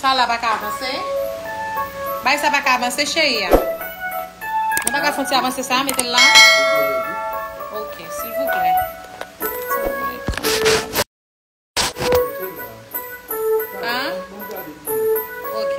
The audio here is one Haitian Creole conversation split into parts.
Sa la pa ka avanse? Bay sa pa ka avanse cheri a? Nou pa ka fon ti avanse sa mete l la? Ok, silvouplè. An? Ok.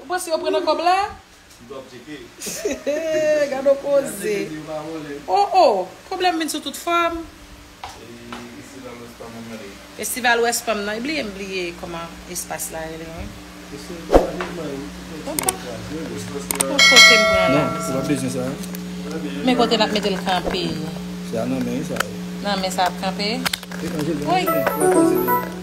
Ou panse yo pre nan kob la. M twò ptike. Hee gadon koze. Oh oh pwoblèm vin sou tout fòm. Festival West Palm nan gade. Festival West Palm nan bliye m bliye kòman espas la rele wi. Bon kote m pran la mezanmi. Men kote nap metel kanpe. Nan men sa ap kanpe. Woy.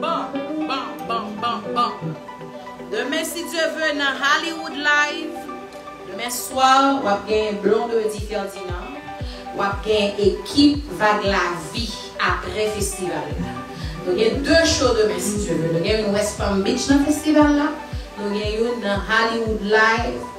Bam! Bam! Bam! Bam! Bam! Demen si Dieu veut nan Hollywood Live. Demen swa wap gen Blondedy Ferdinand, wap gen ekip Vag Lavi aprè festival la. Nou gen 2 show demen si Dieu veut. Nou gen youn West Palm Beach nan festival la, nou gen youn nan Hollywood Live.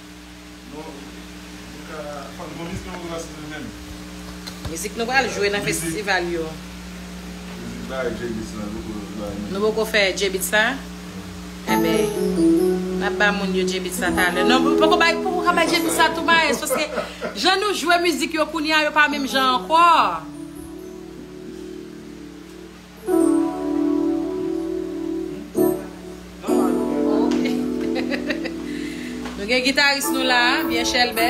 Mizik nou pral jwe nan festival yo. Nou poko fè J-beat sa? Enben, n ap ba moun yo J-beat sa talè. Non, nou poko bay, poko ka bay J-beat sa tou Maes, paske jan nou jwe mizik yo kounye a, yo pa menm jan ankò. Nou gen gitaris nou la, byen chèlbè.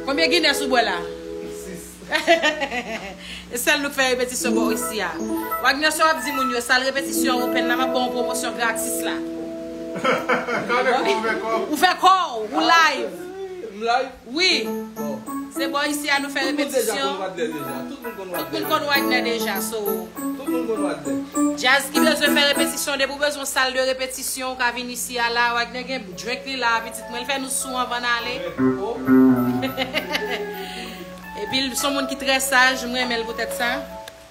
Konbyen Guinness ou bwè la? 6. E sèl nou k fè repetisyon bò isi a. Wagner sa w ap di moun yo, sal repetisyon an open la m ap ba w pwomosyon gratis la. Ou fè kò w, ou live. M live. Wi! Se bò isi a nou fè repetisyon. Tout moun konn Wadner deja, so. Djaz ki bezwen fè repetisyon, depi ou bezwen yon sal de repetisyon, ou ka vin isi a la. Wadner gen drink li la a, pitit mwen. Li fè nou sou anvan n ale. Epi l son moun ki trè saj, m renmen l poutèt sa.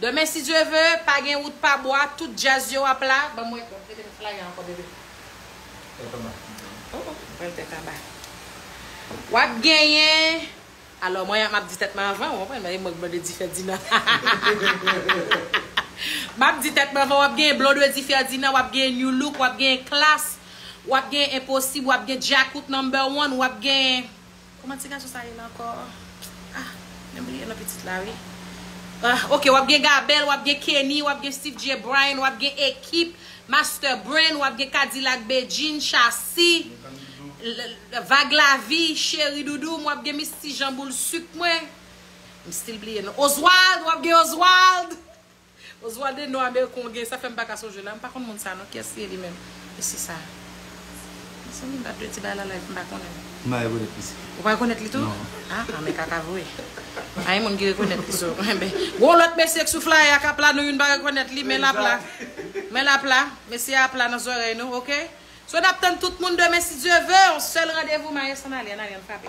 Demen si Dieu veut, pa gen wout pa bwa, tout djazz yo ap la, banm wè kòm, metem flyer ankò bebe. Tèt anba oh oh ou pral tèt anba wap genyen alò mwen map di tèt mwen anvan ou konprann mwen mwen blonde difèdinan map di tèt mwen anvan wap genyen blonde difèdinan wap genyen nu look wap genyen klass wap genyen enposib wap genyen djakout number one wap genyen Kòman ti gason sa rele ankò ah men bliye non pitit la wi ah ok wap gen gabèl wap gen kenny wap gen steeve jay bryan wap gen ekip master brain wap gen kadilak bedjine shassy vag lavi cheri doudou m wap gen misty jean boule sucre mwen m still bliye non oswald wap gen oswald. Oswalde non american w gen sa fèm paka sonje la m pa konn moun sa non kiyès li ye li menm mesye sa mezanmi m pa dwe di bagay la live m pa konnen l. M pa rekonèt misye. Ou pa rekonèt li tou? Non. Aa men kaka vre. Pa gen moun ki rekonèt li so enben gon lòt mesye k sou flyer a kap la nou youn pa rekonèt li men lap la men lap la mesye a ap la nan zòrèy nou ok so nap tann tout moun demen si Dye ve yon sèl randevou maes ann ale ann ale ann frape.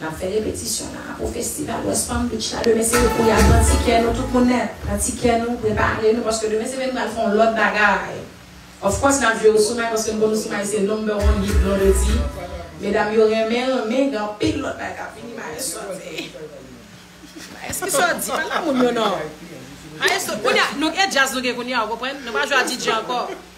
Nap fè repetisyon nan Apo Festival West Palm Beach la demen se pou yal pran ti kè nou tout moun nèt pran ti kè nou prepare nou paske demen se vin pral fon lòt bagay of course nap jwe Ousumay paske nou konn Ousumay se number one hit Blondedy medam yo renmen renmen gen anpil lòt bagay kap vini maestro ap veye maes kisa wap di pale a moun yo non maestro kounya nou e jazz nou gen kounya ou konprann nou pa jwe a DJ ankò.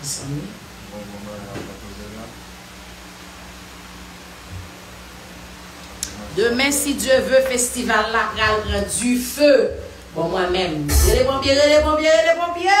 Mezanmi. Bon bon bagay wap fè koze la. Demen si Dieu veut festival la pral pran du feu bon mwen menm rele ponpye rele ponpye rele ponpye.